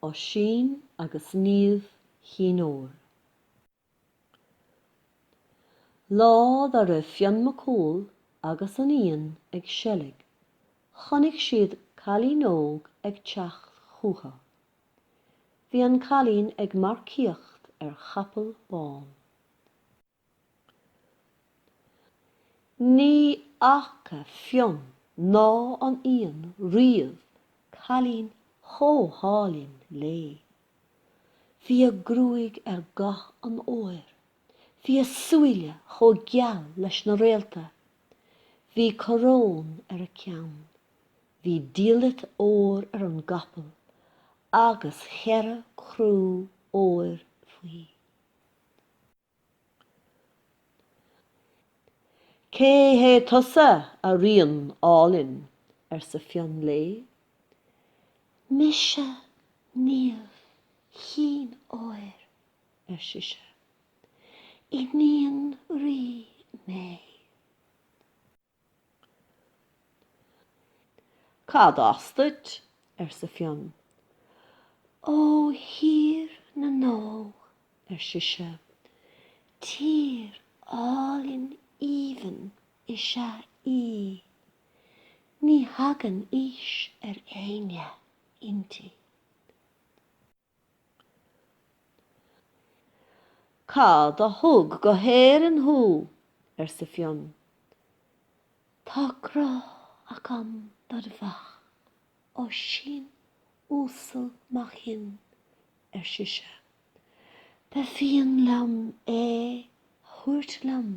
Oisín agus Niamh Chinn Óir. Lá dá raibh Fionn Mac Cumhaill agus an Fhiann ag seilg chonaic siad cailín óg ag teacht chucu. Bhí an cailín ag marcaíocht ar chapall bán. Ní fhaca Fionn ná an Fhiann riamh cailín chomh hálainn léi. Bhí a gruaig ar dhath an óir, bhí a súile chomh geal leis na réalta, bhí coróin ar a ceann, bhí diallait óir ar an gcapall agus cheithre crú óir faoi. Cé hé tusa, a ríon álainn? arsa Fionn léi. Mise Niamh Chinn Óir, ar sise. Iníon rí mé. Cad as duit? arsa Fionn. Ó Thír na nÓg, ar sise. Tír álainn aoibhinn is ea í. Ní thagann aois ar éinne inti. Cad a thug go hÉirinn thú? arsa Fionn. Tá grá agam dod mhac, Oisín uasal mac Fhinn, ar sise. Ba mhian liom é a thabhairt liom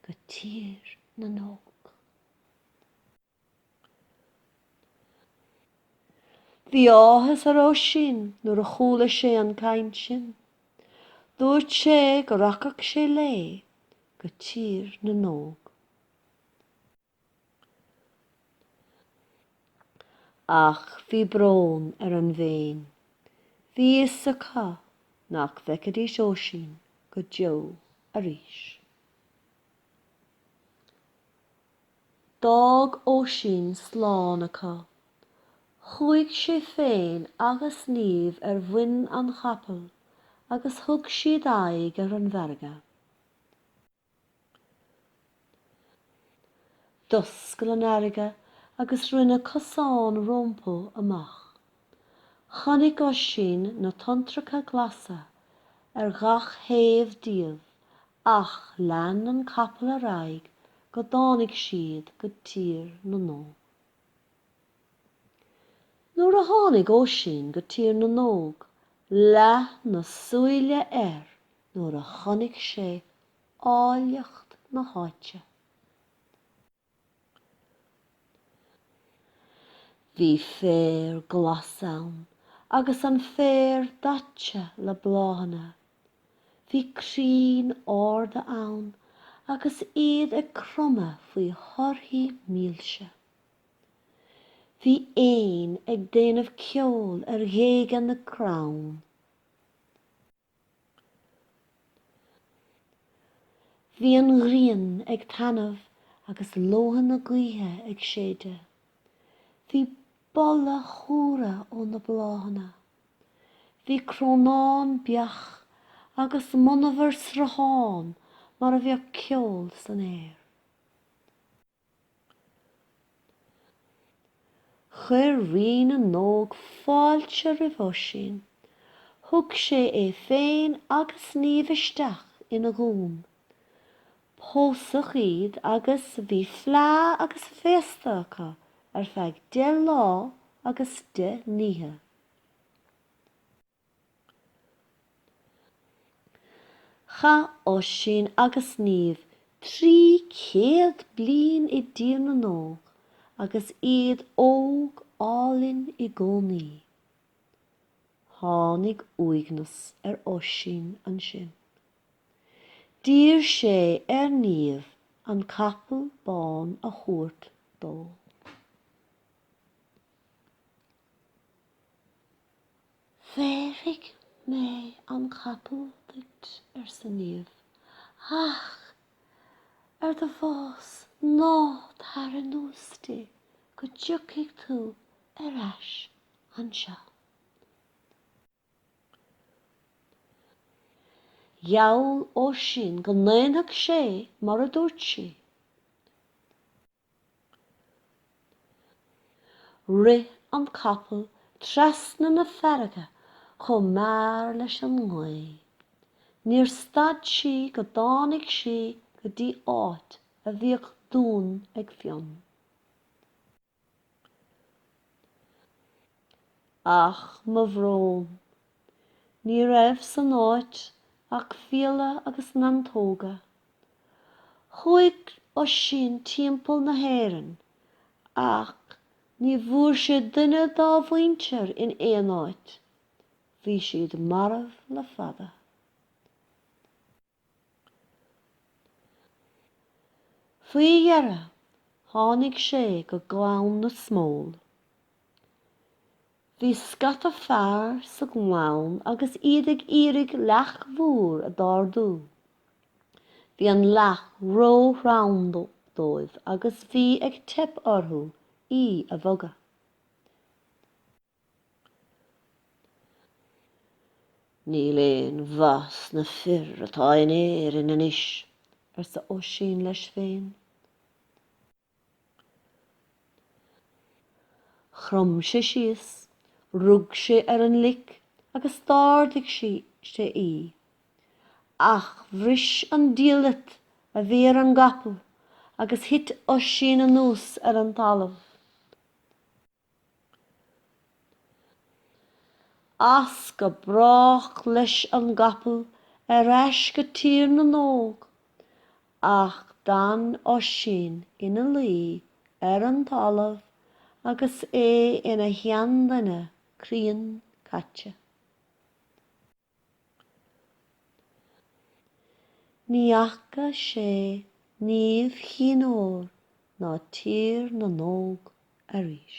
go Tír na nÓg. Bhí áthas ar Oisín nuair a chuala sé an chaint sin. Dúirt sé go rachadh sé léi go Tír na nÓg. Ach bhí brón ar an bhFéinn. Bhí fhios acu nach bhfeicfidís Oisín go deo arís. D'fhág Oisín slán acu. Chuaigh sé féin agus Niamh ar mhuin an chapaill agus thug siad aghaidh ar an bhfarraige. D'oscail an fharraige agus rinne cosán rompu amach. Chonaic Oisín na tonntracha glasa ar gach taobh díobh Ach lean an capall ar aghaidh go dtáinig siad go Tír na nÓg. Nuair a tháinig Oisín go Tír na nÓg leath na súile air nuair a chonaic sé áilleacht na háite. Bhí féar glas ann agus an féar daite le bláthanna. Bhí crainn arda ann agus iad ag cromadh faoi thorthaí mílse. Bhí éin ag déanamh ceoil ar ghéaga na gcrann. Bhí an ghrian ag taithneamh agus leoithne gaoithe ag séideadh. Bhí boladh cumhra ó na bláthanna. Bhí crónán beach agus monabhar sruthán mar a bheadh ceol san aer. Chuir Rí na nÓg fáilte roimh Oisín. Thug sé é féin agus Niamh isteach ina dhún. Pósadh iad agus bhí fleá agus féasta acu ar feadh deich lá agus deich n-oíche. Chaith Oisín agus Niamh trí chéad bliain i dTír na nÓg agus iad óg álainn i gcónaí. Tháinig uaigneas ar Oisín ansin. D'iarr sé ar Niamh an capall bán a thabhairt dó. Bhéarfaidh mé an capall duit, arsa Niamh, ach ar do bhás ná tar anuas di go dtiocfaidh tú ar ais anseo. Gheall Oisín go ndéanfadh sé mar a dúirt sí. Rith an capall trasna na farraige chomh mear leis an ngaoth. Níor stad sí go dtáinig sí go dtí áit a bhíodh dún ag Fionn. Ach mo bhrón! Ní raibh san áit ach fiaile agus neantóga. Chuaigh Oisín timpeall na hÉireann ach ní bhfuair sé duine dá mhuintir in aon áit. Bhí siad marbh le fada. Faoi dheireadh tháinig sé go Gleann na Smól. Bhí scata fear sa nGleann agus iad ag iarraidh leac mhór a ardú. Bhí an leac ró-throm dóibh agus bhí ag teip orthu í a bhogadh. Níl aon mhaith sna fir atá in Éirinn anois, arsa Oisín leis féin. Chrom sé síos, rug sé ar an lic agus d'ardaigh sé í. Ach bhris an diallait a bhí ar an gcapall agus thit Oisín anuas ar an talamh. As go brách leis an gcapall ar ais go Tír na nÓg. Ach d'fhan Oisín ina luí ar an talamh agus é ina sheanduine críon caite. Ní fhaca sé Niamh Chinn Óir ná Tír na nÓg arís.